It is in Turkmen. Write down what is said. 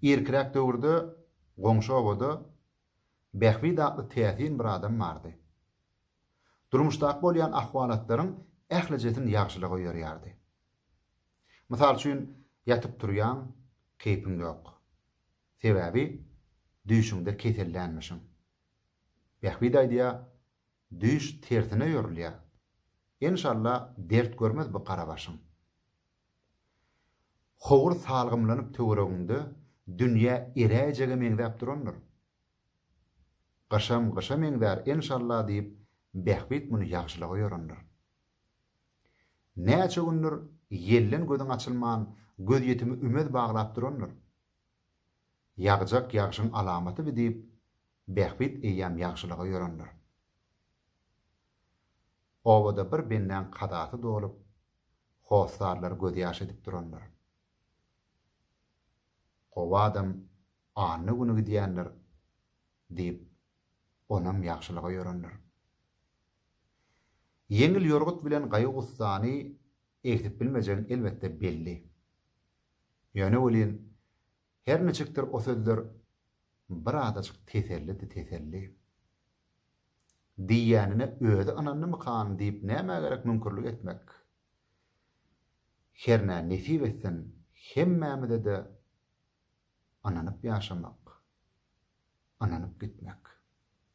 Irkiräk döwürde goňşy obada Bähbit atly täsin bir adam bardy. Durmuşdaky bolýan ahwalatlaryň ählijesini ýagşylyga ýorýardy. Mysal üçin, ýatyp-turýaň, keýpiň ýok. Sebäbi düýşüňde kesellänmişiň. Bähbit aýdýar, Düýş tersine ýörülýä. Enşalla dert görmez bu gara başyň. Howur salgymlanyp töweregiňde dünýä eräýjege meňzäp durandyr. Gyşam gyşa meňzär enşalla diýip Bähbit muny ýagşylyga ýorandyr. Näçe gündir ýelden gözüň açylman gözýetimi ümez baglap durandyr. Ýagjak ýagşyň alamatyby diýip Bähbit eýýäm ýagşylyga ýörendir. Obada bir bendäň kazasy dolup, hossarlar gözýaş edip durandyr. Gowy adam anna güni gidýändir diýip, onam ýagşylyga ýörendir. Ýeňil ýorgut bilen gaýgy-gussany egsidip bilmejegin elbetde belli. Ýöne welin, Her niçikdir o sözler bir azajyk tesellidi teselli. Diýýänine özi ynandymykan diýip nämä gerek müňkürlik etmek. Hernä nesip etsin hemmämize-de ynanyp ýaşamak, ynanyp gitmek.